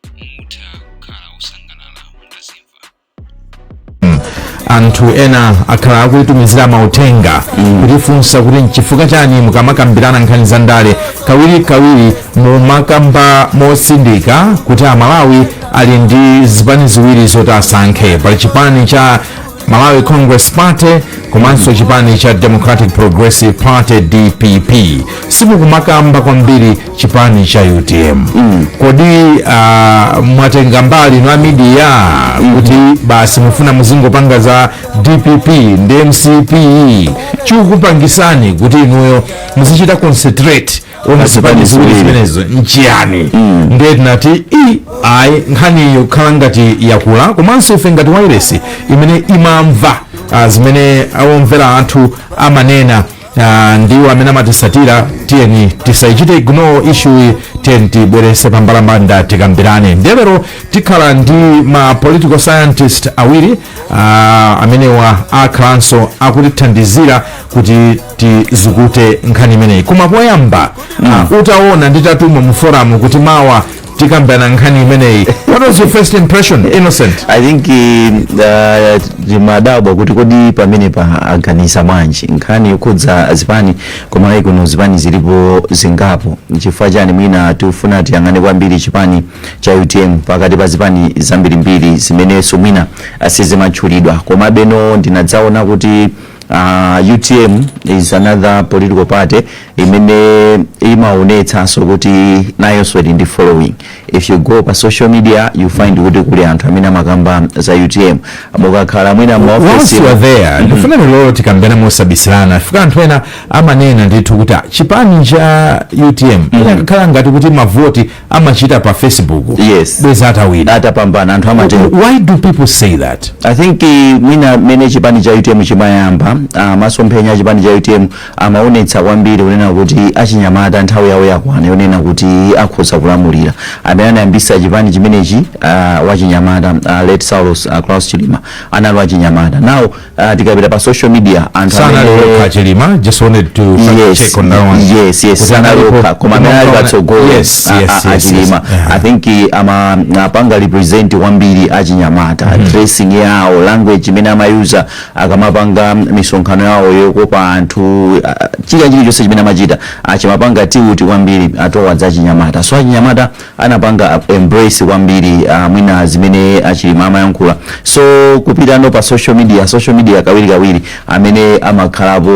mutha kukhala osangalala mutazimva anthu ena akhala akutitumizira mauthenga kutifunsa kuti nchifukwa chani mukamakambirana nkhani za ndale kawiri kawiri mumakamba motsindika kuti amalawi ali ndi zipani ziwiri zoti asankhe pali chipani cha Malawi Congress Party komanso chipani cha Democratic Progressive Party DPP simukumakamba kwambiri chipani cha UTM mm. kodi uh, mwatenga mbali na media mm. kuti basi mufuna muzingopanga za DPP ndi MCP chikukupangitsani kuti inuyo muzichita concentrate pa zipani ziwiri zimenezo nchiyani ndiye tinati i ayi nkhani yokhala ngati yakula komanso ife ngati wailesi imene imamva ah, zimene omvera athu amanena ah, ndi amene amatitsatira tiyeni tisayichite ignore issue tiyeni tibweretse pambalambanda tikambirane ndiye lero tikhala ndi ma political scientist awiri ah, amenewa akhalanso akutithandizira kuti tizukute nkhani imeneyi koma poyamba ah, utaona nditatuma mu forum kuti mawa tikambirana nkhani imeneyi what was your first impression innocent i think uh, ndimadabwa kuti kodi pamenepa aganiza bwanji nkhani yokhudza zipani koma ayi kuno zipani zilipo zingapo chifukwa chani mwina tifuna tiyang'ane kwambiri chipani cha utm pakati pa zipani zambirimbiri zimenenso mwina asizimatchulidwa komabe no ndinadzaona kuti Uh, utm is another political party imene imaonetsanso kuti nayonso ili ndi following if you go pa social media you find kuti kuli anthu amene amakamba za utm mukakhala mwina maofesi once you are there ndifuna lero tikambirane mosabisirana chifukwa anthu ena amanena ndithu kuti ah, chipani cha utm ikanakhala ngati kuti mavoti amachita pa facebook yes. bwenzi atawina atapambana anthu amatero why do people say that i think eh, mwina mmene chipani cha utm chimayamba ah, masomphenya a chipani cha utm amaonetsa kwambiri kunena kuti achinyamata nthawi yawo yakwana yonena kuti akhoza kulamulira amene anayambisa chipani chimenechi ah, wachinyamata ah, late saulos ah, klaus chilima anali wachinyamata nawo uh, tikapita pa social media anthu sanali amene- yekha chilima just wanted to fact yes, check on that one yes, yes, Kuti analipo- sanaloka koma amene ali Unaona- patsogolo yes, a- yes, a- yes, achilima yes. Yeah. i think eh, amapanga represent kwambiri achinyamata dressing yawo language imene amayuza akamapanga misonkhano yawo yokopa anthu ah, chilichonse chimene amachita chimapanga tiuti kwambiri atowa za achinyamata so achinyamata anapanga embrace kwambiri uh, mwina zimene achilima amayankhula so kupitano pa social media social media kawiri kawiri amene amakhalapo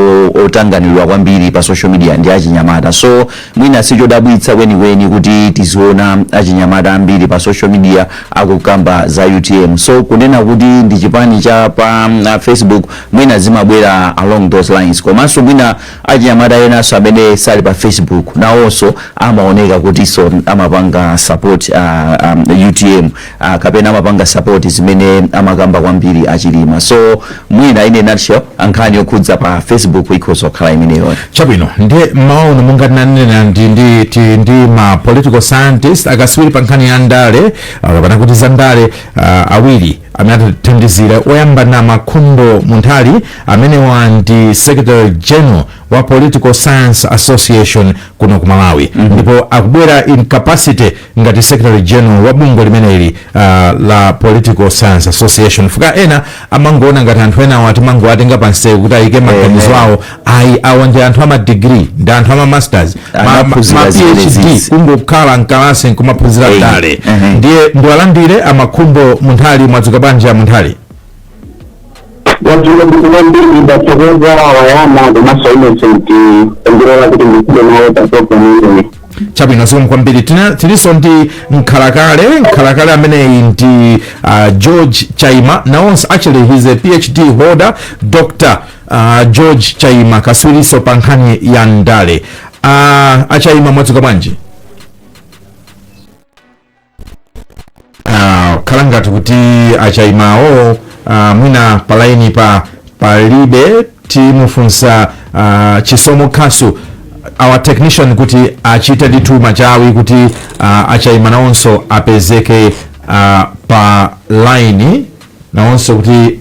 otanganirwa kwambiri pa social media ndi achinyamata so mwina sichodabwitsa kwenikweni kuti tiziona achinyamata ambiri pa social media akukamba za utm so kunena kuti ndi chipani cha pa mm, Facebook mwina zimabwera along those lines komanso mwina Achinyamata enanso amene sali pa Facebook nawonso amaoneka kutinso amapanga support uh, um, utm uh, kapena amapanga support zimene amakamba kwambiri achilima so mwina in a nutshell nkhani yokhudza pa facebook ikhoza kukhala imeneyo chabwino ndiye mmawa uno monga tinanena ndi, ndi, ti- ndi ma political scientist akaswiri pa nkhani ya ndale ah, kapena kuti za ndale ah, awiri atithandizira oyamba ndi a makhumbo munthali amene ndi secretary general wa political science association kuno ku malawi ndipo akubwera in capacity ngati secretary general wa bungwe limeneli uh, la political science association fukwa ena amangoona ngati anthu enawo timangowatenga pansewu kuti ayike maganizo awo ayi awa ndi anthu ama degree ndi anthu ama masters ma, ma, ma Anaphunzira phd zimenezi. kungokhala mkalasi nkumaphunzira Eyi, ndale ehe. ndiye ndiwalandire amakhumbo munthali mwadzuka bwanji a munthali tadzuka bwino ndathokoza wayama komanso innocent pondilola kuti ndikhale nawo pa programu imeneyi chabwino zikomo kwambiri Tina- tilinso ndi mkhalakale mkhalakale ameneyi ndi uh, george chaima nawonso actually he's a phd holder doctor a george chaima kaswiriso pa nkhani ya ndale a achaima mwadzuka bwanji Ah, akhala ngati kuti achaimawo ah, mwina palaini palibe timufunsa ah, chisomo khasu our technician kuti achite ndithu machawi kuti ah, achaima nawonso apezeke ah, pa laini nawonso kuti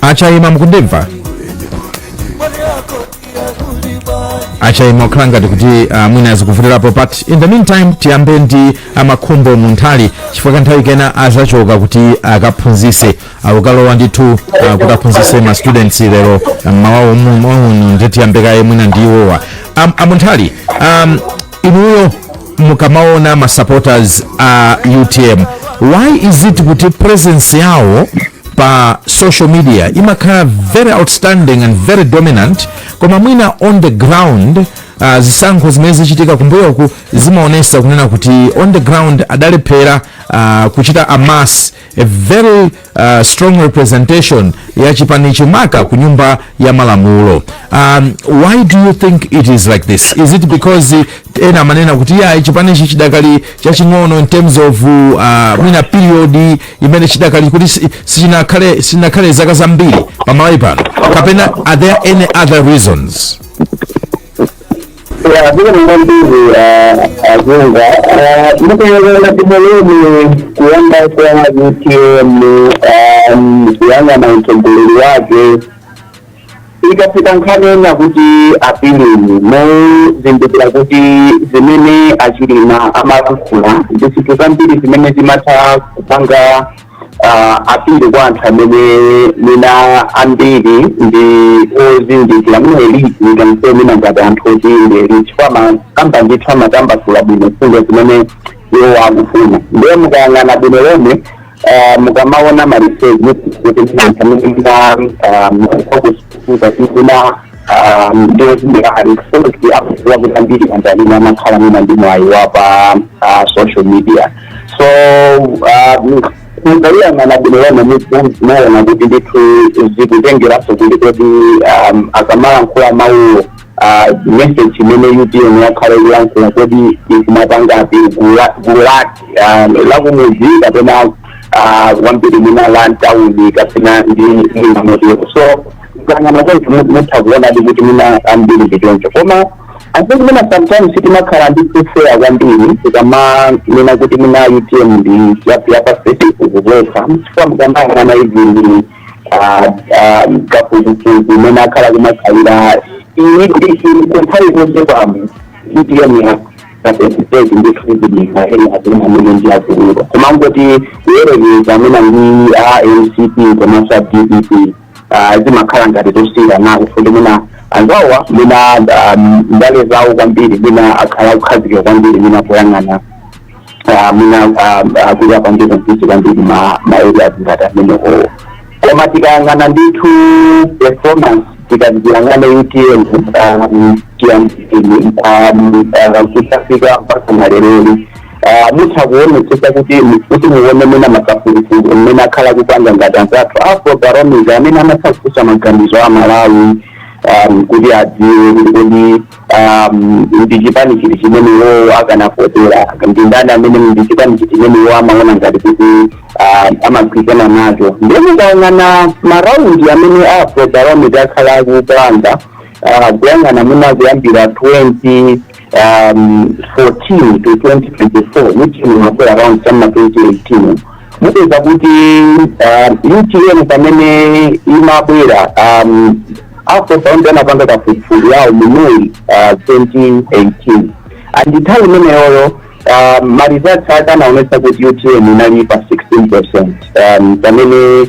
achaima mukundimva achaima akhala ngati kuti uh, mwina azikuvutirapo but in the meantime tiyambe ndi amakhumbo munthali chifukwa kanthawi kena azachoka kuti akaphunzise akukalowa ndithu uh, kuti aphunzise ma students lero mmawa uno nde tiyambe kaye mwina ndi iwowa Am- amunthali um, inuyo mukamaona ma supporters a uh, utm why is it kuti presence yawo pa social media imakhala very outstanding and very dominant koma mwina on the ground uh, zisankho zimene zichitika kumbuyoku zimaonesa kunena kuti on the ground adalephera uh, kuchita amass a very uh, strong representation ya chipani chimenechi ku nyumba ya malamulo um, why do you think it is like this is it because uh, ena amanena kuti chipani ichi chidakali chaching'ono in terms of uh, mwina period imene chidakali kuti si- sichinakhale sichinakhale zaka zambiri pa Malawi pano kapena are there any other reasons Ya, bila mwandizi ajunga mukayang'ana ndithudi kuyamba kwa utm kuyang'ana utsogoleri wake ikafika nkhani yonena kuti appealing muzindikira kuti zimene a Chilima amalankhula ndi zinthu zambiri zimene zimatha kupanga appeal kwa anthu amene mwina ambiri ndi ozindikira mwina elite ngati mwina ngati anthu oti ndi elite chifukwa amakamba ndithu amatambasula bwino mfundo zimene iwo akufuna ndiye mukayang'ana bwino lomwe ah, mukamaona ma research kuti mwina anthu amene mwina ah, mwakufuza kuti mwina ndi ozindikira kufuna kuti akuziwa kuti ambiri manja amene amakhala mwina ndi mwayi wa pa ah, social media so mukayang'ana bwino lomwe muzimaona kuti ndithu zikutengeranso kuti kodi um, akamalankhula mawuwo ah, message imene utm yakhala ikulankhula kodi ikumapanga appeal gulu la- gulu liti ah, lakumuzi kapena ah, kwambiri mwina la mtawuni kapena ndi mwina motero so tikayang'ana konse mu- mutha kuonadi kuti mwina ambiri ndi choncho koma I think mwina sometimes timakhala unfair kwambiri tikamanena kuti mwina utm ndi yapa Facebook pokha chifukwa mukamayang'ana izi ndi ah, ah, kafukufuku imene akhala kumakhalira iyi kuti kunthawi zonse pamo utm yako asesitezi ndi kuzidika ena atena amene ndi akuluakulu koma ngoti kuyerekeza amene ndi a mcp komanso a dpp ah, zimakhala ngati ndi zosiyana kuti mwina anzawa mwina ah, ndale zawo kwambiri mwina akhala akukhazikika kwambiri mwina poyang'ana ah, mwina ah, ah, kuti apange emphasis kwambiri ma ma areas ngati amenewo koma tikayang'ana ndithu performance tikaziyang'ana utm kuyambira '18 kuzafika mpakana leroli mutha kuonetsetsa kuti kuti muone mwina makafukufuku amene akhala akupanga ngati anzathu afro barometer amene amatha kufunsa maganizo a malawi um, kuti adziwe kuti kodi um, ndi chipani chiti chimene iwowo akanavotera ndi ndani amene ndi chipani chiti chimene iwo amaona ngati kuti um, amagwirizana nacho ndiye mukayang'ana maraundi amene afro barometer akhala akupanga uh, kuyang'ana mwina kuyambira 20 um, 14 to 2024 ndi chimodzimodzi round ya mma 2018 mupeza kuti um, utm pamene imabwera um, Afrobarometer anapanga kafukufuku yawo mu may uh, 2018 and nthawi imeneyoyo um, ma results ake anaonetsa kuti utm inali pa 16 percent um, pamene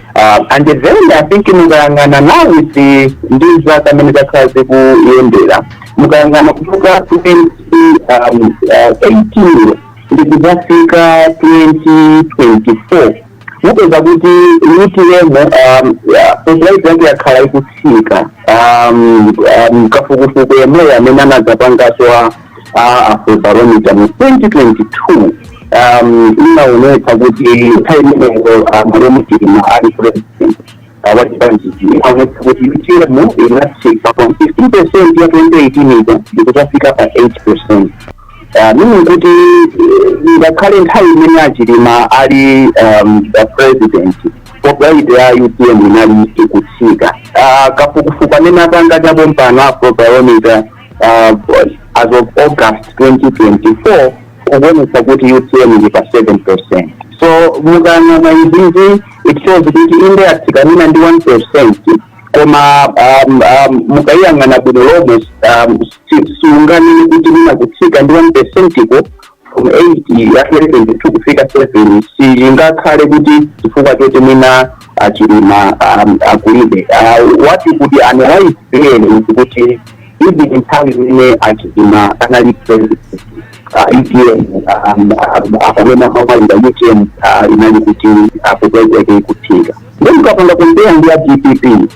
Uh, and then I think mukayang'ana now with the ndi zaka amene zakhala zikuyendera mukayang'ana kuchoka 20 um, uh, 18 ndikuzafika 2024 mupeza kuti utm um, uh, popularity yake yakhala ikutsika um, um, kafukufuku yemweyo amene anadzapangaso wa a afrobarometer mu 2022 um, inaonetsa kuti nthawi imeneyo malemu achilima ali president wachipanichi inaonetsa kuti utm inatsika from 15 percent ya 2018 ija ndikuzafika pa 8 percent meaning kuti ngakhale nthawi imene achilima ali um, a president popularity ya utm inali ikutsika Ah, kafukufuku amene apanga chapompano afrobarometer uh, as of august 2024 akuonetsa kuti utm ili pa 7 percent so mukayang'ana izizi it shows kuti inde yatsika mwina ndi 1 percent koma um, um, mukayang'ana bwino lomwe um, si- siunganene kuti mwina kutsika ndi 1 percentiko ya 2022 kufika 7 singakhale kuti chifukwa choti mwina achilima um, akulibe uh, what you could analyze there is kuti even nthawi imene achilima anali president uh, utm um, um, akamenya ma rally a utm uh, inali kuti popularity yake ikutsika ndiye mukapanga compare ndi ya dpp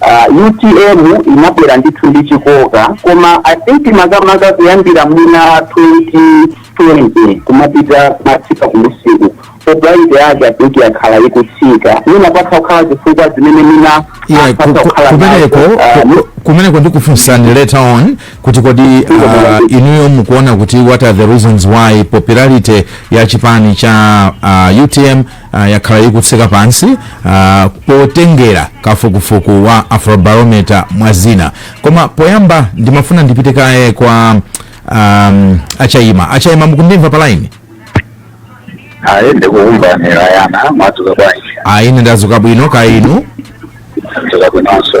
Uh, utm inabwera ndithu ndi chikoka koma i think makamaka kuyambira mwina 2020 kumapita kumatsika kumusiku popularity yake i think yakhala ikutsika mwina patha kukhala zifukwa zimene mwina yeah, ku- patha ku- kukhala kumeneko nazo, uh, ku- ku- kumeneko ndikufunsani later on kuti kodi uh, inuyo mukuona kuti what are the reasons why popularity ya chipani cha uh, utm ah, yakhala ikutsika pansi ah, potengera kafukufuku wa afrobarometer mwa zina koma poyamba ndimafuna ndipite kaye kwa um, achaima achaima mukundimva pa line ayi ndikukumva rayana mwadzuka bwanji ayi ine ndadzuka bwino kaya inu Ndadzuka bwinonso.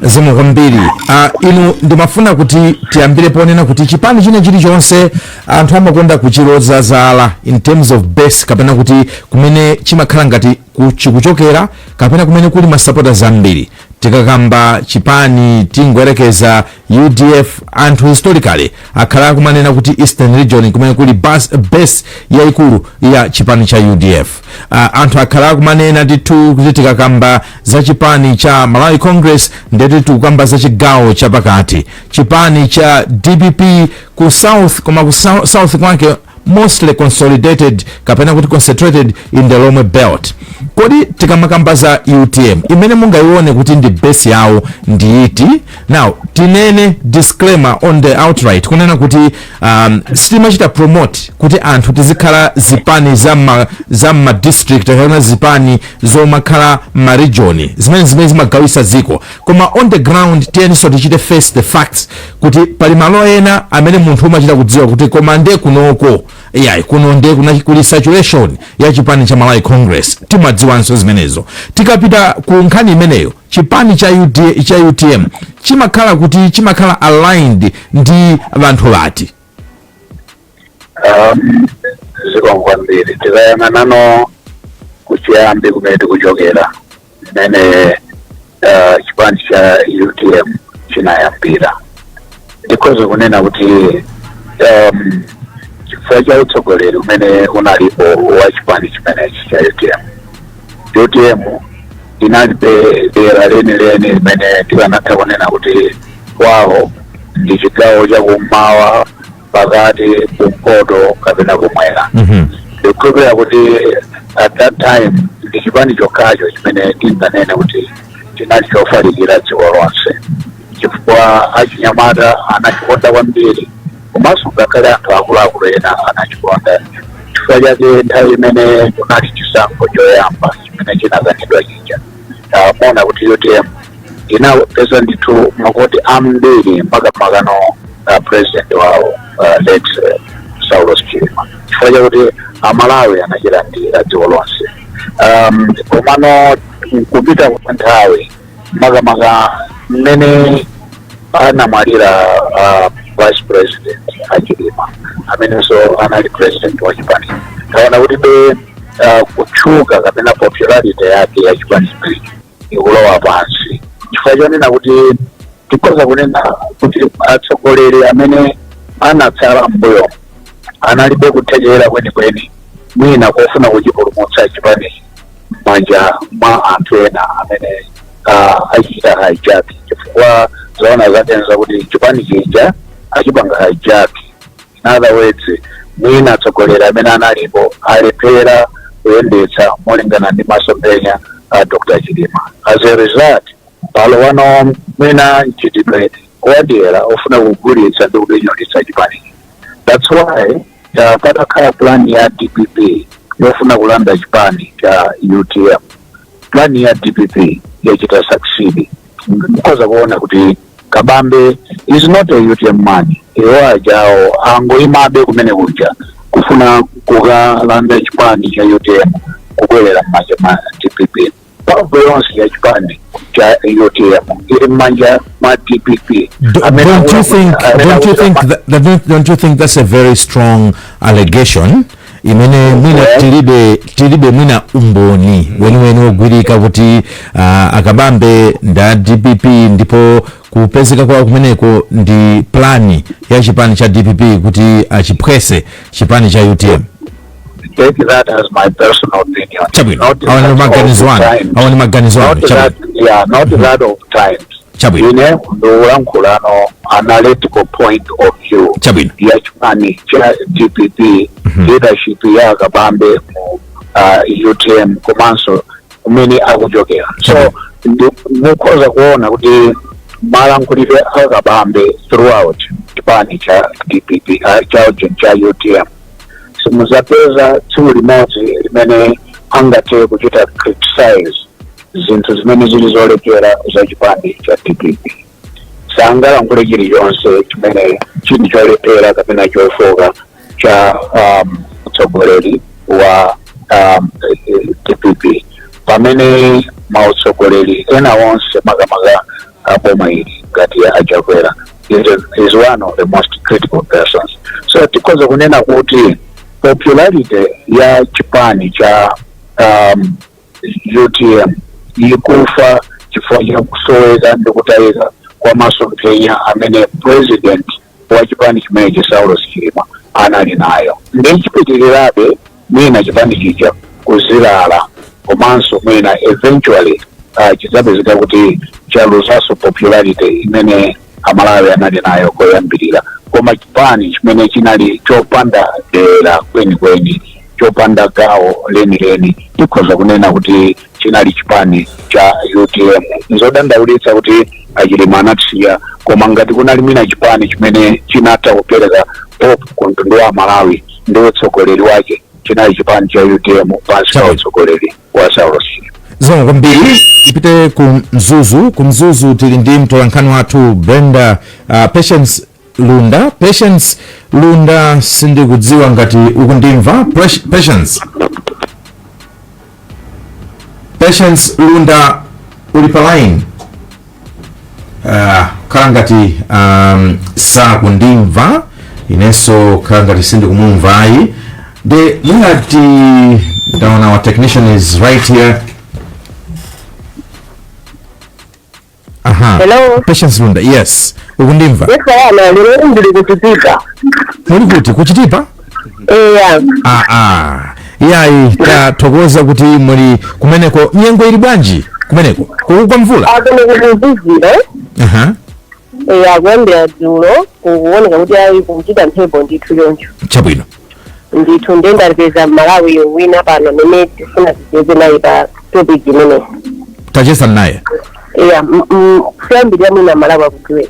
zikomo kwambiri ah, inu ndimafuna kuti tiyambire ponena kuti chipani china chilichonse anthu amakonda kuchiloza zala in terms of base kapena kuti kumene chimakhala ngati ku- chikuchokera kapena kumene kuli masapota ambiri tikakamba chipani tingoyerekeza Udf anthu historically akhala akumanena kuti eastern region kumene kuli bas, base yaikulu ya chipani cha udf uh, anthu akhala akumanena ndithu kuti tikakamba za chipani cha malawi congress ndeti tikukamba za chigawo chapakati chipani cha dpp ku south koma ku sou- south kwake mostly consolidated kapena kuti concentrated in the lomwe belt kodi tikamakamba za utm imene mungayione kuti ndi base yawo ndi iti now tinene disclaimer on the outright kunena kuti um, sitimachita promote kuti anthu tizikhala zipani za ma, za ma district kapena zipani zomakhala ma region zimene zimene zimagawisa ziko koma on the ground tiyeninso tichite face the facts kuti pali malo ena amene munthu umachita kudziwa kuti koma nde kunoko iyayi kuno nde kuna- kuli saturation ya chipani cha malawi congress timadziwanso zimenezo tikapita ku nkhani imeneyo chipani cha, UT, cha utm chimakhala kuti chimakhala aligned ndi vanthu vati zikomo kwambiri tikayang'anano kuchiyambi kumene tikuchokera mmene eh, chipani cha utm chinayambira ndikhoza kunena kuti um, chifukwa cha utsogoleri umene unalipo wa chipani chimenechi cha utm utm inalibe dera lenileni limene tikanatha kunena kuti kwawo ndi chigawo chakummawa pakati kumpoto kapena kumwera Mhm. ndikukhulupirira kuti at that time ndi chipani chokhacho chimene tinganene kuti chinali chofalikira dziko lonse chifukwa achinyamata anachikonda kwambiri komanso ngakhale anthu akuluakulu ena anachikonda chifukwa chake nthawi imene kunali chisankho choyamba chimene chinakanidwa chija taona kuti utm inapeza ndithu mavoti ambiri makamakano a president wawo uh, late uh, saulos chilima chifukwa chakuti amalawi anachilandira dziko lonse um, komano kupita kwa nthawi makamaka mmene anamwalira uh, vice president achilima amenenso anali president wa chipani taona kuti be ah, kutchuka kapena popularity yake ya chipani chimenechi ikulowa pansi chifukwa chonena kuti tikhoza kunena kuti atsogoleri amene anatsala mbuyo analibe kuthekera kwenikweni mwina kofuna kuchipulumutsa chipanichi m'manja mwa anthu ena amene ah, achita hijack chifukwa zoona zake n'za kuti chipani chija achipanga hijack in other words mwina atsogoleri amene analipo alephera kuyendetsa molingana ndi masomphenya a dr chilima as a result palowano mwina mchitidwe wadyera ofuna kugulitsa ndi kupinyolitsa chipani that's why uh, patakhala plan ya dpp yofuna kulanda chipani cha utm plan ya dpp yachita succeed mukhoza kuona kuti kabambe is not a utm man iwo ajawo angoyimabe kumene kuja kufuna kukalanda chipani cha utm kubwerera m'manja mwa dpp mphamvu yonse ya chipani cha utm ili m'manja mwa dpp Do, Amene don't you akula- think? amene Don't you akula- think? That, that- don't, don't you think that's a very strong allegation? imene mwina tilibe tilibe mwina umboni weniweni wogwirika kuti ah, akabambe nda dpp ndipo kupezeka kwawo kumeneko ndi plani ya chipani cha dpp kuti achiphwese chipani cha utm take that as my personal opinion. chabwino Not awa ni that maganizo of anu times. awa ni maganizo anu Not chabwino that, yeah, not that of times. Chabwino. ine ndikulankhulano analytical point of view Chabwino. ya chipani cha dpp leadership ya kabambe mu uh, utm komanso kumene akuchokera so ndi- mukhoza kuona kuti malankhulidwe a kabambe throughout chipani cha dpp uh, cha, cha utm simuzapeza tsiku limodzi limene angathe kuchita criticize zinthu zimene zili zolephera za chipani cha dpp sangalankhule chilichonse chimene chili cholephera kapena chofoka cha um, utsogoleri wa um, dpp pamene mautsogoleri ena onse makamaka a boma ili ngati ya achakwera is, a- is one of the most critical persons so tikhoza kunena kuti popularity ya chipani cha um, utm ikufa chifukwa cha kusoweka ndi kutayika kwa masomphenya amene president wa chipani chimenechi saulos chilima anali nayo ndi chipitirirabe mwina chipani chija kuzilala komanso mwina eventually uh, chidzapezeka kuti chaluzanso popularity imene amalawi anali nayo koyambirira koma chipani chimene chinali chopanda dera kwenikweni chopanda gawo lenileni tikhoza kunena kuti chinali chipani cha utm nzodandaulitsa kuti achilima anatisiya koma ngati kunali mwina chipani chimene chinatha kupereka hope ku mtundu wa malawi ndi utsogoleri wake chinali chipani cha utm pansi pa utsogoleri wa saulosi zikomo kwambiri tipite ku mzuzu ku mzuzu tili ndi mtolankhani wathu brenda uh, patience lunda patience lunda sindikudziwa ngati ukundimva Pres- patience patience lunda uli pa line Ah, kukhala ngati um, sakundimva inenso kukhala ngati sindikumumva ayi nde mwina ndaona our technician is right here aha Hello. patience lunda yes ukundimva Yes, I am. Lero ndili ku Chitipa. muli kuti ku Chitipa eya aa iyayi tathokoza kuti muli kumeneko nyengo ili bwanji kumeneko kukugwa mvula aa kuno kukuzizira aha eya kuyambira dzulo kukuoneka kuti ayi kukuchita mphepo ndithu choncho chabwino ndithu ndiye ndapeza mmalawi wina pano amene tifuna ticheze naye pa topic imeneyi tachezani naye eya m- m- poyambirira mwina amalawi akudziweni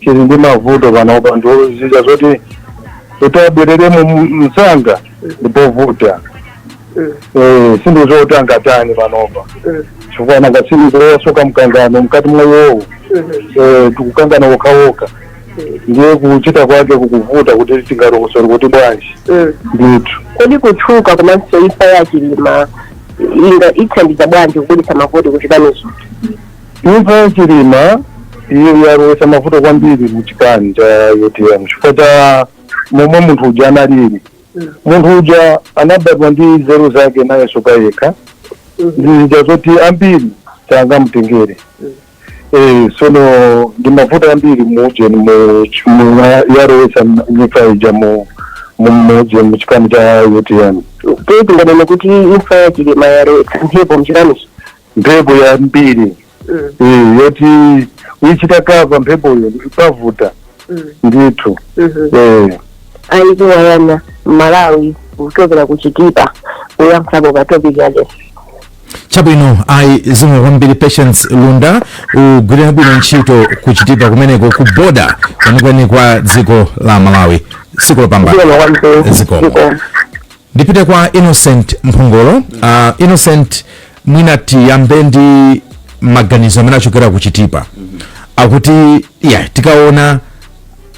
chili ndi mavuto panopa ndi zija zoti kuti abwereremo m- msanga ndipovuta Eh, si zinthu zoti angatani panopa chifukwa nanga si nkhani ya mkangano mkati mwa iwowo Eh, akukangana okhaokha ndiye kuchita kwake kukuvuta kuti tingalokosole kuti bwanji ndithu kodi kutchuka komanso imfa ya chilima ikuthandiza bwanji kubweretsa mavuto ku chipanicho imfa ya chilima iyo yalowesa mavuto kwambiri mu chipani cha utm chifukwa cha momwe munthu uja analili munthu uja anabadwa ndi nzeru zake nayenso payekha ndi zija zoti ambiri sangamutengere Eh, sono ndi mavuto ambiri muujeni mu ch- mu- yalowesa imfa ija mu mu- muujeni mu chipani cha utm tinganene kuti imfa ya chilima yalowetsa mphepo mchipanicho mphepo yambiri Mm. eh, yoti kuyichita kava mphepoyo ndi povuta Mm. ndithu Mhm. eh. ayi awa ndi amalawi kuchokera ku Chitipa kuyankhapo pa topic ya lero chabwino ayi zikomo kwambiri patience lunda ugwire bwino ntchito ku Chitipa kumeneko ku boda kwenikweni kwa dziko la malawi tsiku lopambana zikomo kwambiri zikomo Ndipite kwa Innocent Mphongolo. Uh, Innocent mwina tiyambe ndi maganizo amene achokera ku Chitipa akuti yeah, tikaona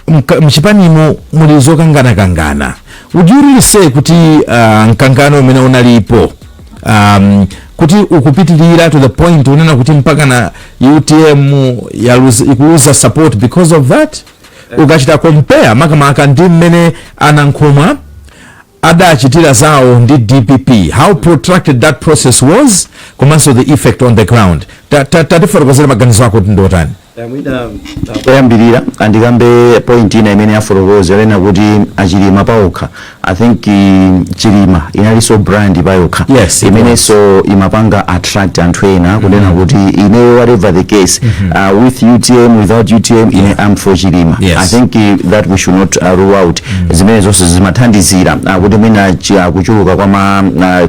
mka- mchipanimo muli zokanganakangana would you really say kuti uh, mkangano umene unalipo um, kuti ukupitirira to the point unena kuti mpaka na utm yaluza- ikuluza support because of that ukachita compare makamaka ndi mmene anankhumwa adachitira zawo ndi dpp how protracted that process was komanso the effect on the ground Ta- ta- tatifotokozera maganizo ako kuti ndiotani koyambirira andikambe point ina imene afotokoza yonena kuti achilima paokha i think um, chilima analinso brand payokha Yes, it imenenso imapanga attract anthu ena kunena kuti ineyo whatever the case uh, with utm without utm ine am for chilima Yes. i think uh, that we should not uh, rule out zimene zonse zimathandizira uh, kuti mwina chi- uh, kuchuluka kwa ma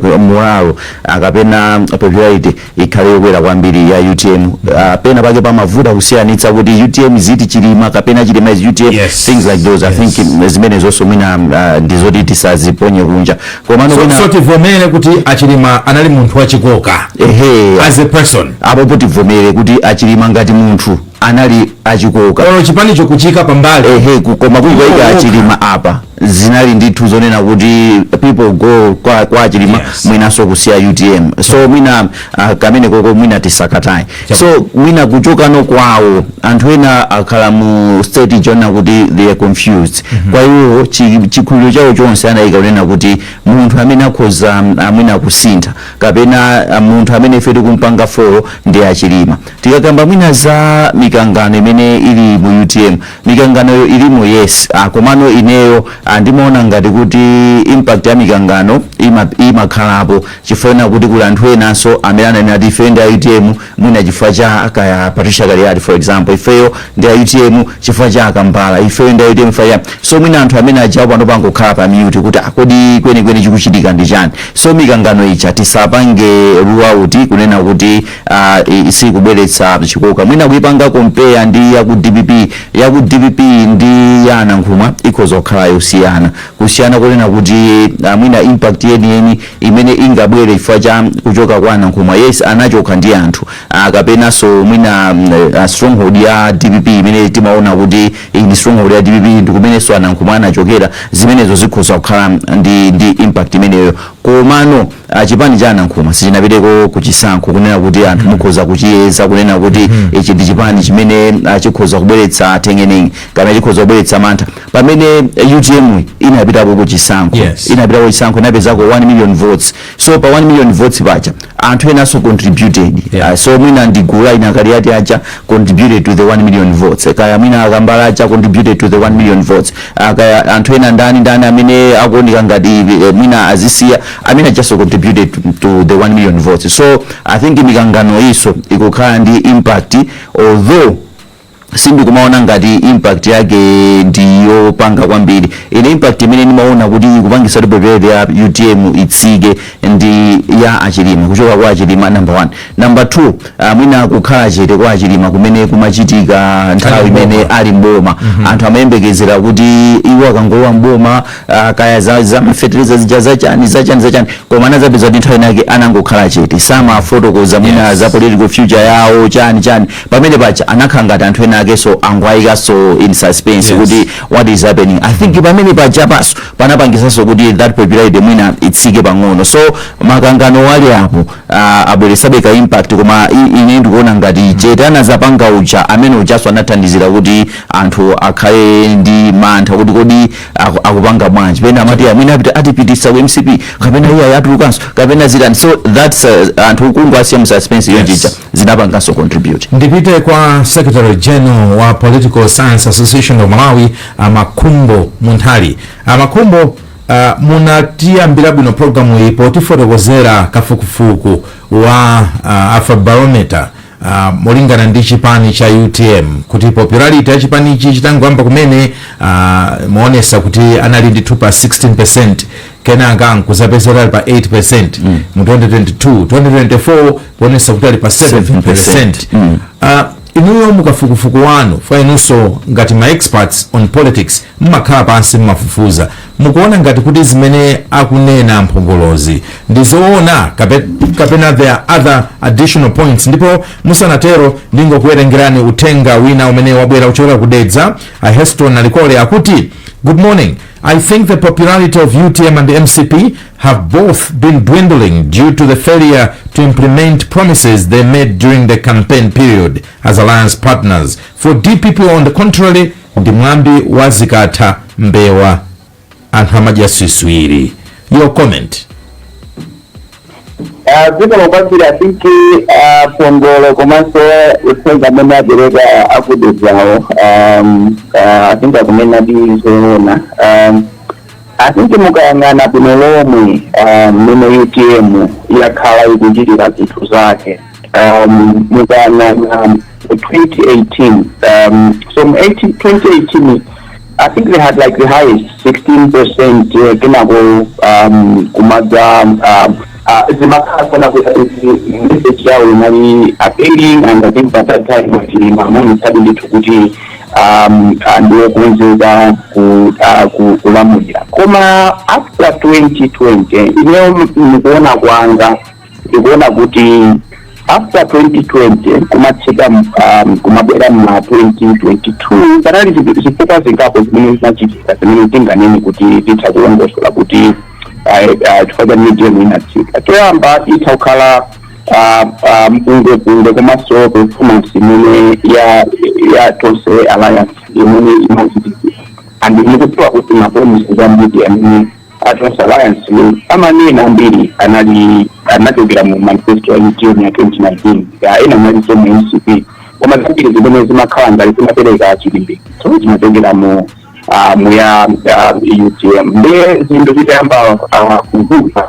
uh, moralo uh, kapena popularity ikhale yokwera kwambiri ya utm uh, ah, pena pake pamavuta kusiyanitsa kuti utm is it chilima kapena chilima is utm yes. things like those yes. i think mm, zimenezonso mwina uh, mm, ndizoti tisaziponye kunja komano so, wina... so tivomere kuti achilima anali munthu wachikoka ehe as a person apopo tivomere kuti achilima ngati munthu anali achikoka olo chipanicho kuchiika pambali ehe koma kuwaika achilima apa zinali ndithu zonena kuti people go kwa, kwa chilima yes. mwinaso kusiya utm so mwina uh, kameneko mwina tisakataye so mwina kuchokano kwawo anthu ena akhala mu state yonena kuti they are confused mm -hmm. kwa iwo chikhulupiriro chawo chonse anayika kunena kuti munthu amene akhoza mwina kusintha kapena munthu amene ife tikumpanga follow ndi achilima tikakamba mwina za mikangano imene ili mu utm Mikanganoyo ilimo yes ah, komano ineyo ah, ndimaona ngati kuti impact ya mikangano ima- imakhalapo chifukwa chonena kuti kuli anthu enanso amene amanena kuti ife ndi a utm mwina chifukwa cha kaya patricia kaliati for example ifeyo ndi a utm chifukwa cha akambala ifeyo ndi a utm chifukwa cha so mwina anthu amene aja panopa angokhala pa mute kuti ah, kodi kwenikweni chikuchitika ndi chani so mikangano ija tisapange rule out kunena kuti Ah, i- sikubweretsa chikoka mwina kuipanga compare ndi ya ku dpp ya ku dpp ndi ya anankhumwa ikhoza kukhala yosiyana kusiyana kunena kuti ah, mwina impact yeniyeni imene ingabwere chifukwa cha kuchoka kwa anankhumwa yes anachoka ndi anthu ah, kapenanso mwina mm, ah, stronghold ya dpp imene timaona kuti iyi ndi stronghold ya dpp ndi kumenenso anankhumwa anachokera zimenezo zikhoza kukhala ndi, ndi impact imeneyo komano a chipani cha anankhumwa sichinapiteko ku chisankho kunena kuti anthu mukhoza kuchiyeza kunena kuti ichi ndi chipani chimene ah, chikhoza kubweretsa m'tengeni kapena chikhoza kubweretsa mantha pamene eh, utm inapitako ku chisankho Yes. inapitako ku chisankho inapezako 1 million votes so pa 1 million votes paja anthu enaso contributed Yeah. Ah, so mwina ndi gulu la anakaliati aja contributed to the 1 million votes kaya mwina akambala aja contributed to the 1 million votes Ah, kaya anthu ena ndani ndani amene akuoneka ngati eh, mwina azisiya I mean, I just contributed to, to the 1 million votes. So I think mikangano iso ikukhala ndi impact although sindikumaona ngati impact yake ndiyopanga kwambiri ine impact imene ndimaona kuti ikupangisa popularity ya utm itsike ndi ya achilima kuchoka kwa achilima number one number two Ah, mwina kukhala chete kwa achilima kumene kumachitika nthawi imene ali mboma mhm. anthu amayembekezera kuti iwo akangolowa mboma ah, kaya za ma fertilizer zija zachani zachani zachani koma anazapeza kuti nthawi inake anangokhala chete samafotokoza mwina za political future yawo chani chani pamene pacha anakhala ngati anthu ena akenso angwayikanso in suspense kuti what is happening i think pamene pacha paso panapangisanso kuti that popularity mwina itsike pang'ono so makangano wali apo uh, abweresabe ka impact koma ine ndikuona ngati chete anazapanga uja amene ujaso anathandizira kuti anthu akhale ndi mantha kuti kodi aku- akupanga bwanji pena amati mwina apita atipitisa ku mcp kapena iye atulukanso kapena zitani so that's uh, anthu kungowasiya mu suspense ija zija zinapanganso contribute ndipite kwa secretary general wa political science association of malawi amakhumbo munthali amakhumbo Uh, munatiyambira bwino programu iyi potifotokozera kafukufuku wa uh, afrobarometer uh, molingana ndi chipani cha utm kuti popularity ya chipanichi chitangoyamba kumene uh, imaonesa kuti anali ndi 16% kenaka nkuzapeza kuti ali pa 8 mm. mu 2022 2024 kuonesa kuti ali pa 7 7%. mm. uh, inuyo mukafukufuku wanu poti inunso ngati ma experts on politics Mmakhala pansi mmafufuza mukuona ngati kuti zimene akunena amphongolozi ndi zoona kape, kapena there are other additional points ndipo musanatero ndingokuwerengerani uthenga wina umene wabwera kuchokera ku Dedza a Heston Malikole akuti Good morning. I think the popularity of UTM and MCP have both been dwindling due to the failure to implement promises they made during the campaign period as alliance partners. For DPP, on the contrary, Ndi mwambi wa zikatha mbewa anthu amadya swiswiri. Your comment. Ah, zikomo kwambiri i think ah, mphongolo komanso uthenga umene apereka akudedzawo um, ah, i think akunena ndi zoona um, I think mukayang'ana bwino lomwe ah, mmene utm yakhala ikuchitira zinthu zake um, mukayang'ana 2018 um, so um, 2018 I think they had like the highest 16 percent uh, kenako um, kumadza um, uh, zimakhala zoona kuti message yawo inali appealing and I think by that time chilima amamitsadi ndithu kuti ndi wokonzeka kulamulira koma after 2020 ineyo ndikuona kwanga ndikuona kuti after 2020 kumatsika kumabwera ma 2022 panali zifukwa zingapo zimene zinachitika zimene zinganene kuti titha kulongosola kuti chifukwa chani UTM inatsika choyamba itha kukhala mpungwepungwe komanso performance imene ya ya tonse alliance imene imachitika and mukudziwa kuti mapromise ambiri amene a tonse alliance amanena ambiri anali anachokera mu manifesto ya utm ya 2019 ya ena analinso mu mcp koma zambiri zimene zimakhala ngati zimapereka chilimbikitso zimachokera mu ah, mu ya ah, utm nde zinthu zitayamba ah, kuvuta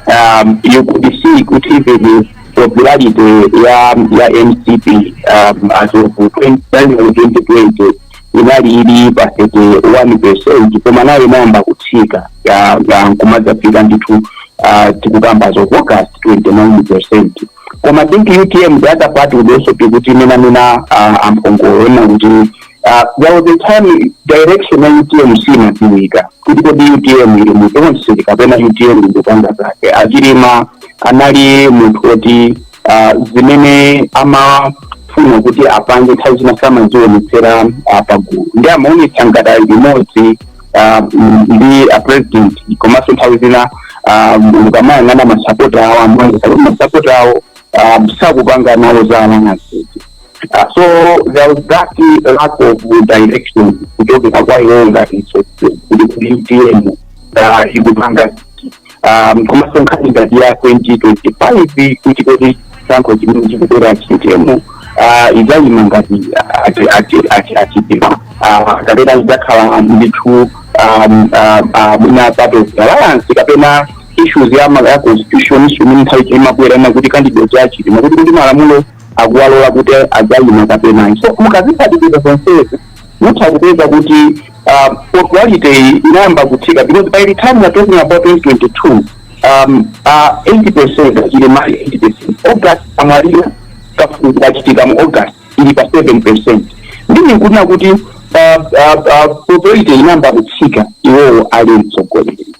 um, you could see kuti even popularity ya ya mcp um, as of 2020 inali ili pa 31 percent koma nayo inayamba kutsika ya- ya nkumadzafika ndithu uh, tikukamba as of august 29 percent koma I think utm the other part would also be kuti imene amene ah, a Mpongolo anena kuti ah, there was a time direction ya utm simadziwika kuti kodi utm ili mu tonse kapena utm ikupanga zake achilima anali munthu woti ah, zimene amafuna kuti apange nthawi zina samazionetsera ah, pagulu nde amaonetsa ngati ali limodzi ah, mm, ndi a president komanso nthawi zina ah, mukamayang'ana masapota awo amene kapena masapota awo ah, sakupanga nawo za alliances Uh, so there was that uh, lack of direction kuchokera kwa iwo ngati utm uh, ikupanga um, komanso nkhani ngati ya 2025 kuti kodi chisankho chimene chikubwera achilima uh, idzayima ngati ati- ati- ati- achilima uh, kapena idzakhala ndithu um, uh, uh, mwina part of alliance kapena issues ya ma- ya constitution issue imene nthawi zina imabwera ina kuti candidacy ya achilima kuti kuti malamulo akuwalola kuti adzayima kapena so mukaziphatikiza zonsezi mutha kupeza kuti um, popularity iyi inayamba kutsika because by the time we are talking about 2022 um, uh, 8 percent achilima ali 8 percent august amwalira kafukufuku kachitika mu august ili pa 7 percent nde ndikunena kuti uh, uh, uh, popularity inayamba kutsika iwowo ali mtsogoleri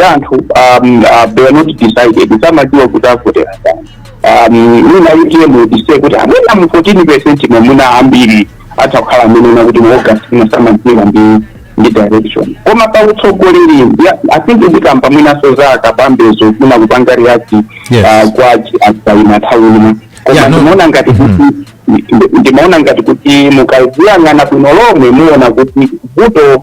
ya anthu um, uh, they are not decided samadziwa kuti avotera ndani um, mwina UTM let's say kuti amwina mu 14 percent momwemo ambiri atha kukhala amene una kuti mu august mwina samadziwa ndi ndi direction koma pa utsogoleri ya- i think ndikamba mwinanso za a Kabambe zomwe munakapanga react Yes. uh, kwa asaina nthawi ino koma Yeah, no. ndimaona ngati kuti ndimaona ngati kuti mukaziyang'ana bwino lomwe muona kuti vuto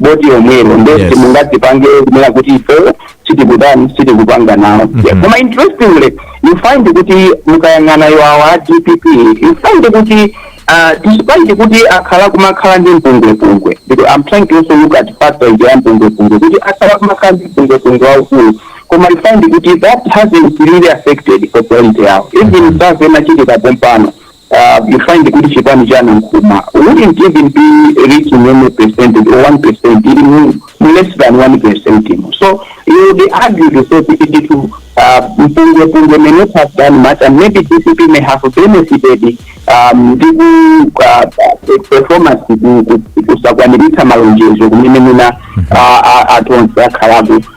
boti lomwelo nde Yes. simungazipange kunena kuti ife sitikutani sitikupanga nawo Mhm. koma interestingly you find kuti mukayang'ana awawo a dpp you find kuti uh, despite kuti akhala kumakhala ndi mpungwepungwe because i'm trying to also look at factor ya mpungwepungwe kuti akhala kumakhala ndi mpungwepungwe waukulu koma you find kuti that hasn't really affected popularity yawo even zina zachitika pompano you find kuti chipani cha Nankhumwa wouldn't even be reaching any percentage or 1%, ili mu mu less than 1% mu. So you would argue to say kuti ndithu uh, mpungwepungwe may not have done much and maybe DPP may have benefited um, ndi ku uh, uh, performance ku- ku- kusakwaniritsa malonjezo kumene mwina uh, uh, a Tonse akhalapo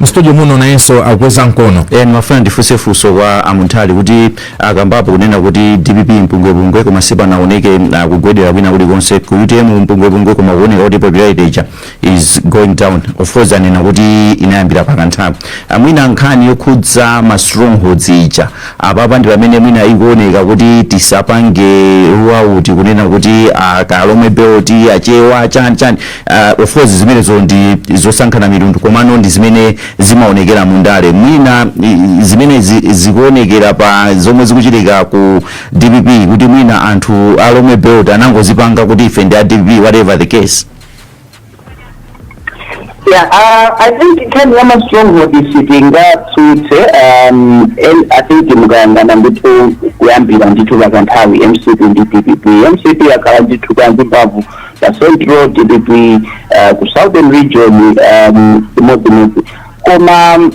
mstudio muno nayenso akukweza mkono eh ndimafuna ndifuse funso kwa a Munthali kuti akambapo kunena kuti dpp mpungwepungwe koma sipanaoneke uh, kugwedera kwina kulikonse ku utm mpungwepungwe koma kuoneka kuti popularity ija is going down of course anena kuti inayambira pakanthawi amwina nkhani yokhudza ma strongholds ija apapa ndi pamene mwina ikuoneka kuti tisapange rule out kunena kuti a ku lomwe belt achewa chani chani Uh, of course zimenezo ndi zosankhana mitundu komano ndi zimene zimaonekera mu ndale mwina i- zimene zi- zikuonekera pa zomwe zikuchitika ku dpp kuti mwina anthu a lomwe belt anangozipanga kuti ife ndi a dpp whatever the case Yeah, uh, I think nkhani ya ma stronghold sitingaitsutse, um, and I think mukayang'ana ndithu kuyambira ndithu pakanthawi, MCP ndi DPP. MCP yakhala ndithu ndi mphamvu. pa central dpp uh, ku southern region um, chimodzimodzi koma um,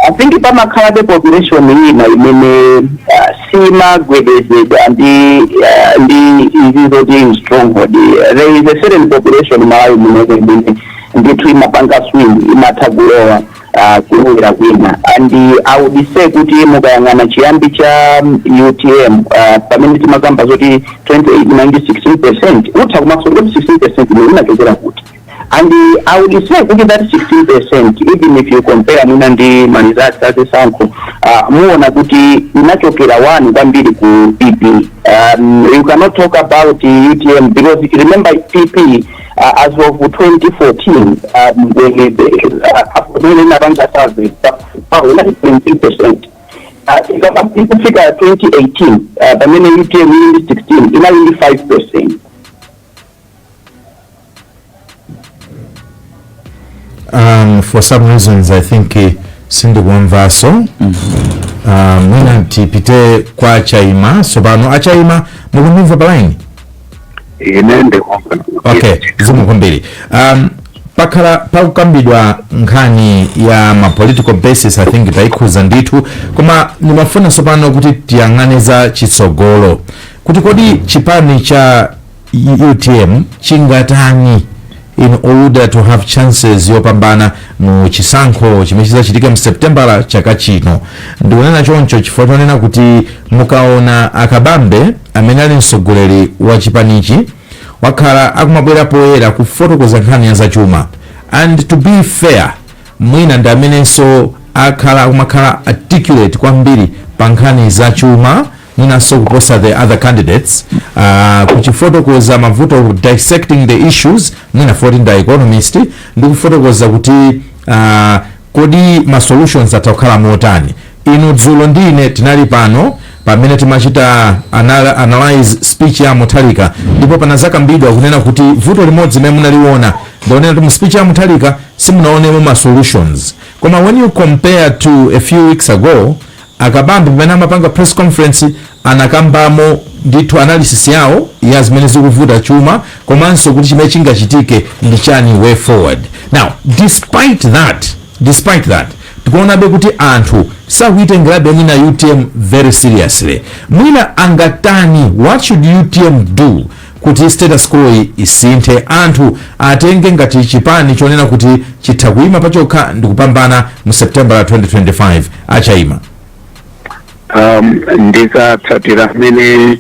i think pamakhalabe population ina imene uh, simagwedezedwa ndi uh, ndi izi zoti stronghold there is a certain population mmalawi muno imene ndithu imapanga swing imatha kulowa aah kulowera kwina and i would say kuti mukayang'ana chiyambi cha utm aah pamene timakamba zoti 2018 ndi 16 percent utha kumafunsa kuti 16 percent imene inachokera kuti and i would say kuti that 16 percent even if you compare mwina ndi ma results a zisankho uh, muona kuti inachokera one kwambiri ku pp um, you cannot talk about utm because remember pp uh, as of 2014 um, when the, uh, when inapanga survey paona 19 percent ikafika 2018 uh, pamene utm ili 16 inali ndi 5 percent um, for some reasons i think eh, sindikuwamvanso um, mwina tipite kwa chaima sopano achaima mukundimva palaini ine ndikumva okay zikomo kwambiri um, pakhala pakukambidwa nkhani ya ma political bases i think taikhuza ndithu koma ndimafuna tsopano kuti tiyang'ane za kutsogolo kuti kodi chipani cha utm chingatani in order to have chances yopambana mu chisankho chimene chizachitika mu septembala chaka chino ndikunena choncho chifukwa chonena kuti mukaona akabambe amene ali mtsogoleri wa chipanichi wakhala akumabwera poyera kufotokoza nkhani ya zachuma and to be fair mwina ndi amenenso akhala akumakhala articulate kwambiri pa nkhani zachuma mwinanso kuposa the other candidates uh, kuchifotokoza mavuto of dissecting the issues mwina poti ndi economist ndi kufotokoza kuti uh, kodi ma solutions atha kukhala motani inu dzulo ndi ine tinali pano pamene timachita anal analyze speech ya Mutharika ndipo panazakambidwa kunena kuti vuto limodzi limene munaliona ndi lonena kuti mu speech ya Mutharika simunaonemo ma solutions koma when you compare to a few weeks ago A Kabambe pamene amapanga press conference anakambamo ndithu analysis yawo ya zimene zikuvuta chuma komanso kuti chimene chingachitike ndi chani way forward. Now despite that, despite that tikuonabe kuti anthu sakuitengerabe mwina utm very seriously. Mwina angatani, what should utm do Kuti status quo yi isinthe anthu atenge ngati chipani chonena kuti chitha kuima pachokha ndikupambana mu September 2025 a Chaima. Um, ndikatsatira mmene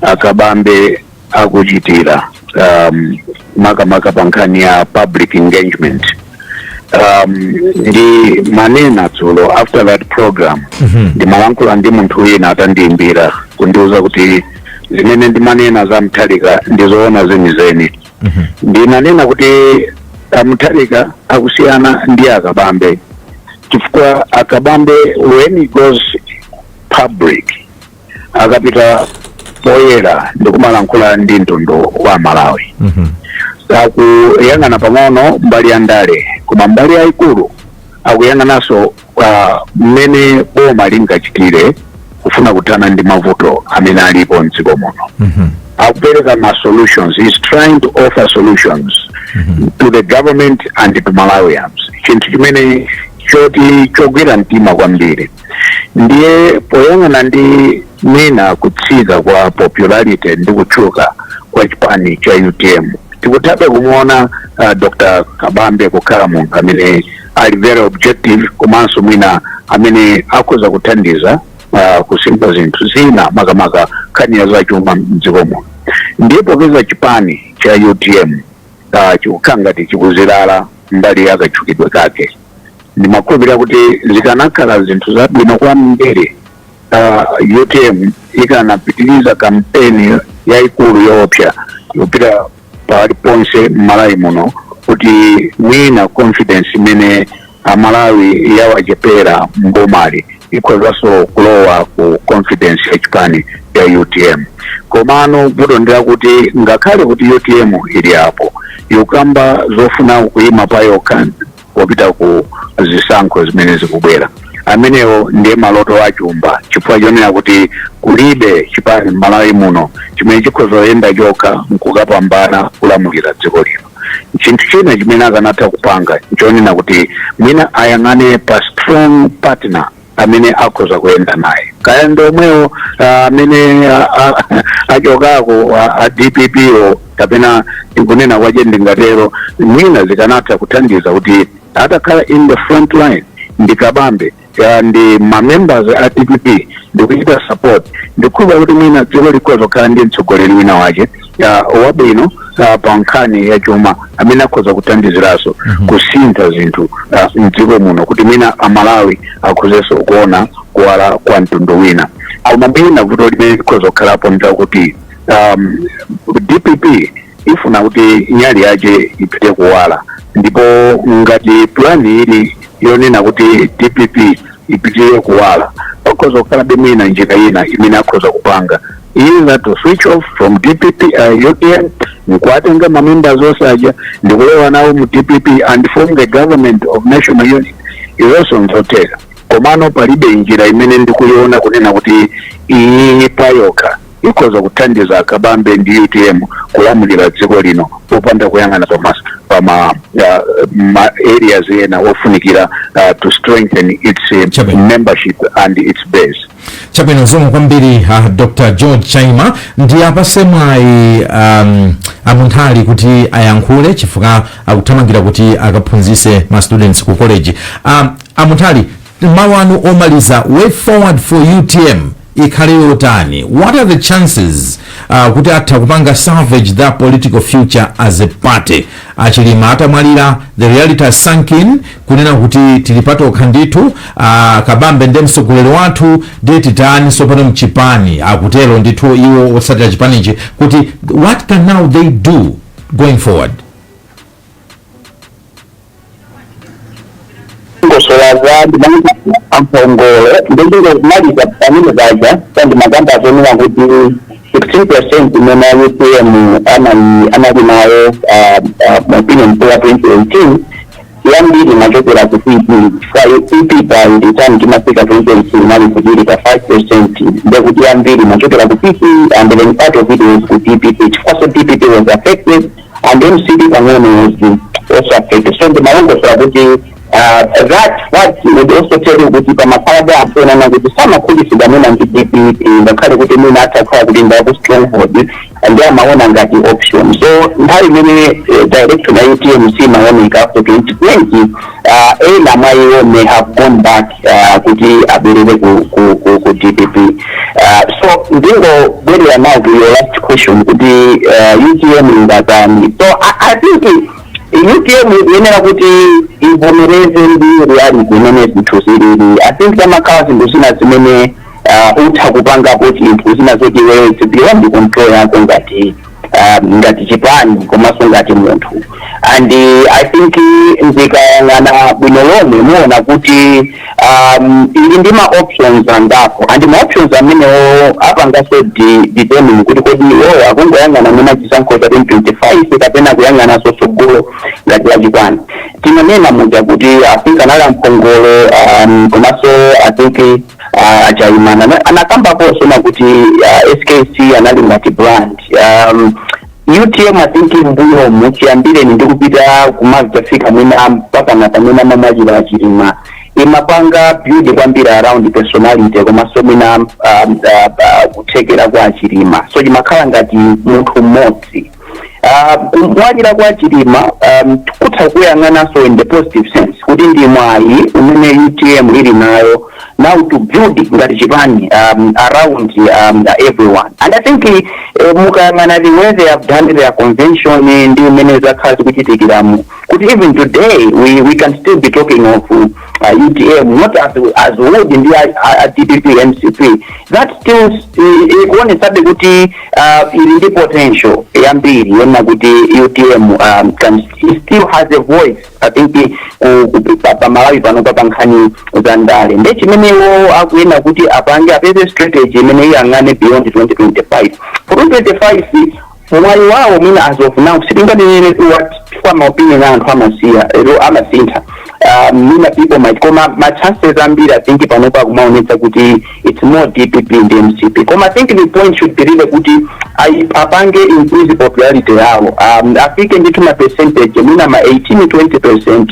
akabambe akuchitira um, makamaka pa nkhani ya public engagement um, ndimanena dzulo after that program ndimalankhula ndi munthu wina atandiimbira kundiuza kuti zimene ndimanena za Mutharika ndizoona zenizeni ndinanena kuti a Mutharika akusiyana ndi akabambe chifukwa akabambe when he goes public akapita poyera ndikumalankhula ndi mtundu wa malawi Mhm. akuyang'ana pang'ono mbali ya ndale koma mbali yayikulu akuyang'ananso ah, mmene boma lingachitire kufuna kuthana ndi mavuto amene alipo mdziko muno Mhm. akupereka ma solutions he's trying to offer solutions to the government and to malawians chinthu chimene choti chogwira mtima kwambiri ndiye poyang'ana ndi mwina kutsika kwa popularity ndi kutchuka kwa chipani cha utm tikuthabe kumuona uh, dr kabambe kukhala munthu amene ali very objective komanso mwina amene akhoza kuthandiza uh, kusimba zinthu zina makamaka nkhani ya zachuma mdziko muno ndiye popeza chipani cha utm uh, chikukhala ngati chikuzilala mbali ya katchukidwe kake ndimakhulupirira kuti zikanakhala zinthu zabwino kwambiri ah, utm ikanapitiriza kampeni yayikulu yoopsa yopita pali ponse mmalawi muno kuti mwina confidence imene amalawi yawachepera mbomali ikhozanso kulowa ku confidence ya chipani ya utm komano vuto ndilakuti ngakhale kuti utm ili apo yokamba zofuna kuyima pa yokha popita ku zisankho zimene zikubwera amenewo ndiye maloto achumba chifukwa chonena kuti kulibe chipani m'malawi muno chimene chikhoza kuyenda chokha nkukapambana kulamulira dziko lino chinthu china chimene akanatha kupanga nchonena kuti mwina ayang'ane pa strong partner amene akhoza kuyenda naye kaya ndi omwewo ah, amene ah, ah, achokako ah, a dppwo kapena ndikunena kwache ndingatero mwina zikanatha kuthandiza kuti atakhala in the front line ndi kabambe ah, ndi mamembers a dpp ndikuchita support ndikukhulupirira kuti mwina dziko likhoza kukhala ndi mtsogoleri wina wache wabwino ah, pa nkhani ya chuma amene akhoza kuthandiziraso kusintha zinthu ah, mdziko muno kuti mwina amalawi akhozenso kuona kuwala kwa mtundu wina koma mwina vuto limene likhoza kukhalapo ndakuti um, dpp ifuna kuti nyali yache ipite kuwala ndipo ngati pulani ili yonena kuti dpp ipite kuwala pakhoza kukhalabe mwina njira ina imene akhoza kupanga either to switch off from dpp uh, utm nkuwatenga mamembers onse aja ndikulowa nawo mu dpp and form the government of national unity izonso nzotheka komano palibe njira imene ndikuyiona kunena kuti iyi payokha ikhoza kuthandiza akabambe ndi utm kulamulira dziko lino popanda kuyang'ana pa mas- pa ma, uh, ma areas ena ofunikira uh, to strengthen its uh, Chabwino. membership and its base chabwino zomwe kwambiri uh, dr george chaima ndiwapatse mwayi um, a Munthali kuti ayankhule chifukwa akuthamangira kuti akaphunzitse ma students ku college um, a Munthali mawu anu omaliza way forward for utm ikhale yotani what are the chances uh, kuti atha kupanga salvage their political future as a party a Chilima atamwalira the reality has sunk in kunena kuti tili patokha ndithu a kabambe ndiye mtsogoleri wathu ndiye titani sopano mchipani akutero ndithu iwo otsatira chipanichi kuti what can now they do going forward ndimalongosola za zimanena a Mpongolo ndingomaliza pamene paja kuti ndimakamba zonena kuti 16 percent imene utm anali anali nayo mu opinion poll ya 2018 yambiri imachokera ku pp chifukwa pp pa nthawi timafika 2018 inali ili pa 5 percent ndekuti yambiri imachokera ku pp and then part of it was ku dpp chifukwa so dpp was affected and mcp pang'ono was also affected so ndimalongosola kuti uh, that what would also tell you kuti pamakhalabe anthu oonana kuti samakhutitsidwa mwina ndi dpp ngakhale kuti mwina atha kukhala kuti ndi aku stronghold ndi amaona ngati option so nthawi imene eh, direction ya utm siimaoneka after 2020 uh, ena mwa iwo may have gone back uh, kuti abwerere ku, ku, ku, ku dpp uh, so ndingobwerera now to your last question kuti uh, utm ingatani so I, i think it- UTM ikuyenera kuti ivomereze ndi reality imene zinthu zilili i think pamakhala zinthu zina zimene uh, utha kupangapo chinthu zina zoti iweyo it's beyond the control yako ngati uh, ngati chipani komanso ngati munthu and uh, i think ndikayang'ana bwino lomwe muwona kuti um, ili ndi ma options angapo and ma options amenewo apanganso di- determine kuti kodi iwowo akungoyang'ana mwina chisankho cha 2025 kapena kuyang'ananso tsogolo ngati la chipani tinanena muja kuti i think anali a Mpongolo um, komanso i think uh, a Chaima ana- anakambaponso zoti uh, skc anali ngati brand um, utm i think mbuyomu chiyambireni ndikupita kumadzafika mwina mpaka na pamene amamwalira a Chilima imapanga build kwambiri around personality komanso mwina um, uh, uh, kuthekera kwa a Chilima so chimakhala ngati munthu mmodzi Ah, kumwalira kwa a Chilima um, kutha kuyang'anidwanso in the positive sense kuti ndi mwayi umene utm ili nayo now to build ngati chipani um, around um, everyone and i think eh, mukayang'ana the way they have done their convention eh, ndi mmene zakhala zikuchitikiramu kuti even today we, we can still be talking of uh, a utm not as, as good ndi a, a, a dpp mcp that still i- ikuonetsabe kuti uh, ili ndi potential yambiri yoona kuti utm um, can, it still has a voice i think ku- ku- pa- pa malawi pano pa pankhani za ndale nde chimene iwo akuyena kuti apange apeze strategy imene iyang'ane beyond 2025 for 2025 mwayi wawo mwina as of now sitinganenere what chifukwa maopinion a anthu amasiya amasintha Ah, mwina people might koma ma chances ambiri i think panopo akumaonetsa kuti it's more dpp ndi mcp koma i think the point should be really kuti ayi- apange increase popularity yawo um, afike ndithu ma percentage mwina ma 18 20 percent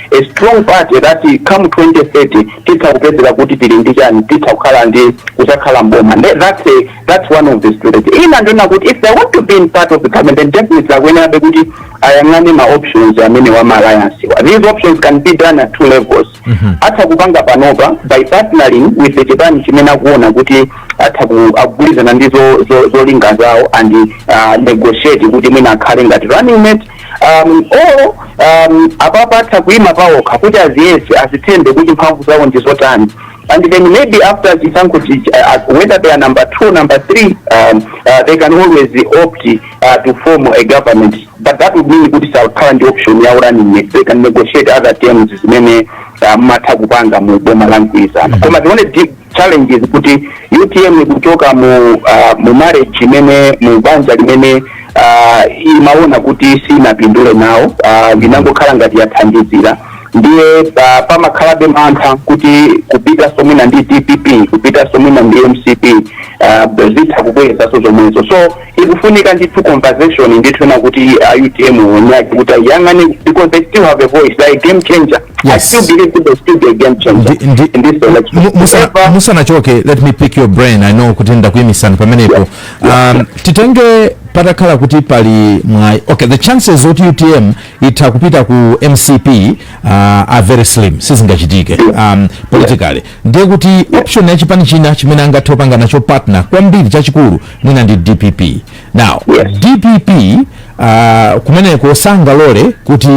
a strong party that come 2030 titha kupezeka kuti tili ndi chani titha kukhala ndi kudzakhala mboma Nde that's a, that's one of the strategy ina ndi yonena kuti if they want to be in part of the government then definitely akuyenerabe kuti ayang'ane ma options amenewa ma alliance-wa these options can be done at two levels atha kupanga panopa by partnering with the chipani chimene akuona kuti atha ku- akugwirizana ndi zo- zo- zolinga zawo and uh, negotiate kuti mwina akhale ngati running mate um, olo um, apapa atha kuima paokha kuti aziyese azithembe kuti mphamvu zawo ndi zotani and then maybe after chisankho chi- uh, uh, whether they are number two number three um, uh, they can always opt uh, to form a government but that would mean kuti sakhala ndi option ya running mate they can negotiate other terms zimene uh, amatha kupanga mu boma la mgwirizano koma tione di- challenges kuti utm ikuchoka mu uh, mu marriage imene mu banja limene uh, imaona kuti sinapindule nawo uh, linangokhala ngati yathandizira ndiye uh, pamakhalabe mantha kuti kupitaso mwina ndi dpp kupitaso mwina ndi mcp uh, zitha kubwerezaso zomwezo so ikufunika ndithu conversation ndithu yonena kuti a utm unyaki kuti ayang'ane because they still have a voice they are a game changer i Yes. still believe that they still be a game changer Ndi- ndi- in this election Mu- musa- However, musanachoke let me pick your brain i know kuti ndakuyimisani pamenepo um, titenge patakhala kuti pali mwayi okay the chances oti utm itha kupita ku mcp uh, are very slim sizingachitike um, politically ndiye kuti option ya chipani china chimene angathe kupanga nacho partner kwambiri chachikulu mwina ndi dpp now yes. dpp uh, ah, kumeneko sangalole kuti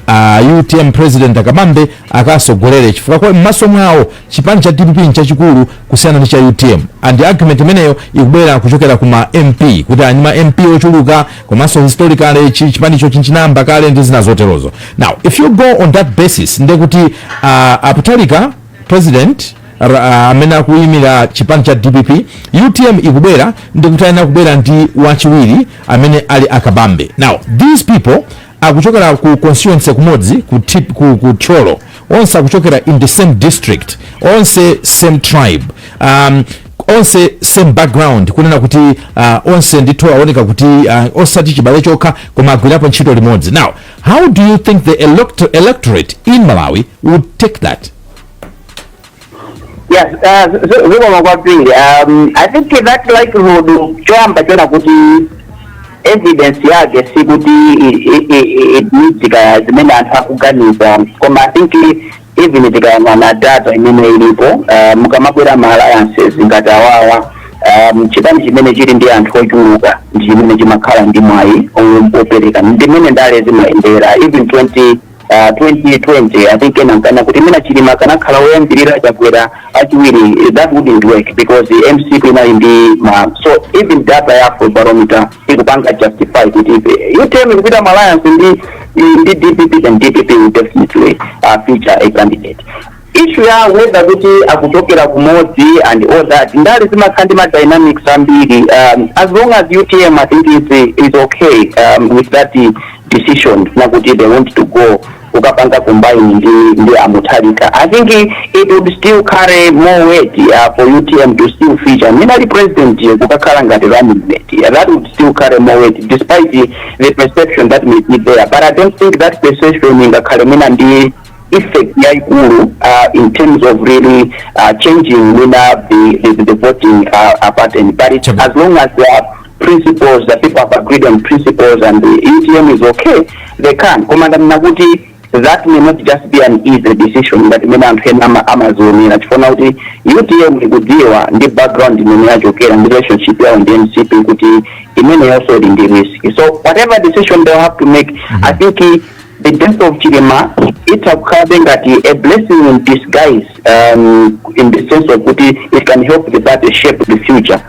uh, ah, utm president a kabambe akasogolere chifukwa mmaso mwawo chipani cha dpp nchachikulu kusiyana ndi cha utm and argument imeneyo ikubwera kuchokera kuma mp kuti ali ndi ma mp ochuluka komanso historically chipanicho chinayamba kale ndi zina zoterozo now if you go on that basis ndekuti uh, a mutharika president r- ah, amene akuyimira chipani cha dpp utm ikubwera ndikuti ayenera kubwera ndi wachiwiri amene ali akabambe now these people akuchokera ku constituency kumodzi ku, tip, ku, ku thyolo onse akuchokera in the same district onse same tribe um, onse same background kunena kuti uh, onse ndithu aoneka kuti uh, osati chibale chokha koma agwirapo ntchito limodzi now How do you think the elect electorate in Malawi would take that? Yes, uh, zikomo kwambiri um, i think that likelihood choyamba chona kuti evidence yake sikuti i- i- i- i- it needs kaya zimene anthu akuganiza koma i think even tikayang'ana data imene ilipo uh, mukamabwera ma alliances ngati awawa um, chipani chimene chili ndi anthu ochuluka ndi chimene chimakhala ndi mwayi o- opereka ndimene ndale zimayendera even 20 Uh, 2020 i think ena nkana kuti mwina chilima kanakhala woyambirira chakwera achiwiri that wouldn't work because mcp inali ndi ma so even data ya afrobarometer ikupanga justify kuti if utm ikupita mu alliance ndi ndi dpp then dpp will definitely uh, feature a candidate issue ya whether kuti akuchokera kumodzi and all that ndale zimakhala ndi madynamics ambiri um, as long as utm i think is, is okay um, with that decision nakuti they want to go kukapanga combine ndi ndi a Mutharika I think it would still carry more weight uh, for UTM to still feature minali president ye kukakhala ngati running mate yeah, that would still carry more weight despite the, the perception that may be there but I don't think that perception ingakhale mwina ndi effect yaikulu uh, in terms of really uh, changing mwina the, the, the voting uh, uh, pattern but it, Chabu. as long as uh, principles that people have agreed on principles and the UTM is okay, they can. Koma ndanena kuti that may not just be an easy decision ngati imene anthu ena ama- amazionera chifukwa kuti UTM ikudziwa ndi background imene yachokera ndi relationship yawo ndi mcp kuti imeneyonso ili ndi risk so whatever decision they have to make i think eh, the death of chilima itha kukhalabe ngati a blessing in disguise um, in the sense of kuti it can help the party shape the future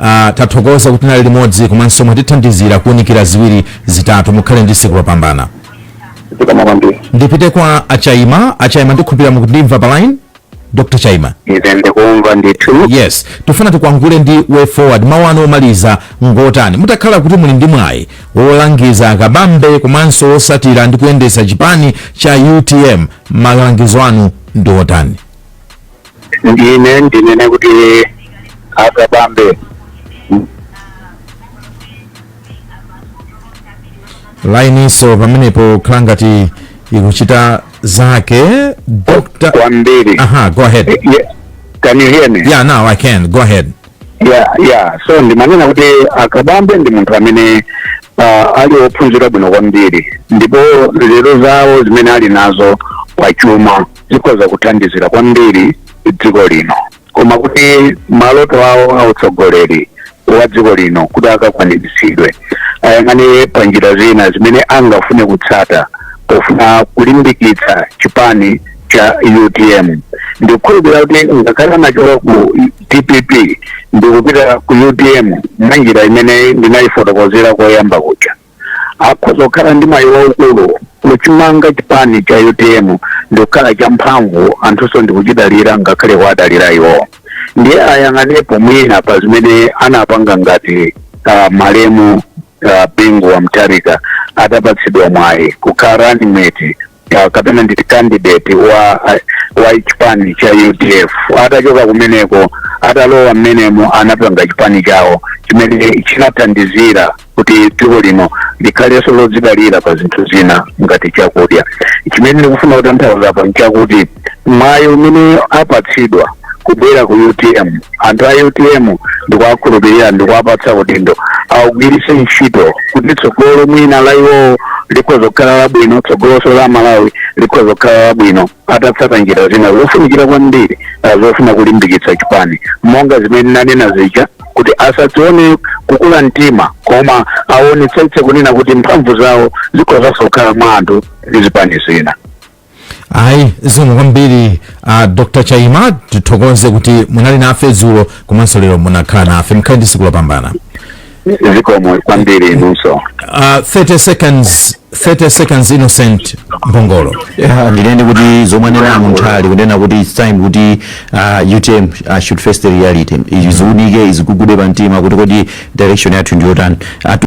Ah, tathokoza kuti tinali limodzi komanso mwatithandizira kuunikira ziwiri zitatu mukhale ndi tsiku lopambana zikomo kwambiri ndipite kwa achaima achaima ndikhulupira mukundimva pa line dr chaima ife ndikumva ndithu yes tifuna tikwangule ndi way forward mawu anu omaliza ngotani mutakhala kuti muli ndi mwayi wolangiza akabambe komanso otsatira ndi kuyendetsa chipani cha utm malangizo anu ndi otani ine ndinene kuti akabambe line-nso pamenepo khala ngati ikuchita zake dr kwambiri aha go ahead Ye- can you hear me yeah now i can go ahead yeah yeah so ndimanena kuti akabambe ndi munthu amene uh, ali ophunzira bwino kwambiri ndipo nzeru zawo zimene ali nazo pachuma zikhoza kuthandizira kwambiri dziko lino koma kuti maloto awo a utsogoleri wa dziko lino kuti akakwaniritsidwe ayang'ane pa njira zina zimene angafune kutsata pofuna kulimbikitsa chipani cha utm ndikukhulupirira kuti ngakhale anachoka ku dpp ndikupita ku utm mwa njira imene ndinayifotokozera koyamba kuja akhoza kukhala ndi mwayi waukulu kuchimanga chipani cha utm ndikukhala champhamvu anthunso ndikuchidalira ngakhale kuwadalira iwowo ndiye ayang'anepo mwina pa zimene anapanga ngati uh, malemu uh, bingu wa mutharika atapatsidwa mwayi kukhala running mate ka- kapena nditi candidate wa wa chipani cha udf atachoka kumeneko atalowa mmenemo anapanga chipani chawo chimene chinathandizira kuti dziko lino likhalenso lodzidalira pa zinthu zina ngati chakudya chimene ndikufuna kutanthauza apa nchakuti mwayi umene apatsidwa kubwera ku utm anthu a utm ndikuwakhulupirira ndikuwapatsa udindo awugwiritse ntchito kuti tsogolo mwina la iwowo likhoza kukhala labwino tsogoloso la malawi likhoza kukhala labwino atatsata njira zina zofunikira kwambiri ah, zofuna kulimbikitsa chipani monga zimene nanena zija kuti asadzione kukula mtima koma aonetsetse kunena kuti mphamvu zawo zikhozanso kukhala mwa anthu ndi zipani zina ayi zikomo kwambiri uh, dr chaima tithokoze kuti munali nafe dzulo komanso lero munakhala nafe mukhale ndi tsiku lopambana zikomo kwambiri inunso uh, 30 seconds 30 seconds innocent mphongolo Yeah, ndinene kuti zomwe anena munthali kunena kuti its time kuti uh, utm uh, should face the reality iziziunike izizigugude pa mtima kuti kodi direction yathu ndiyotani Atu-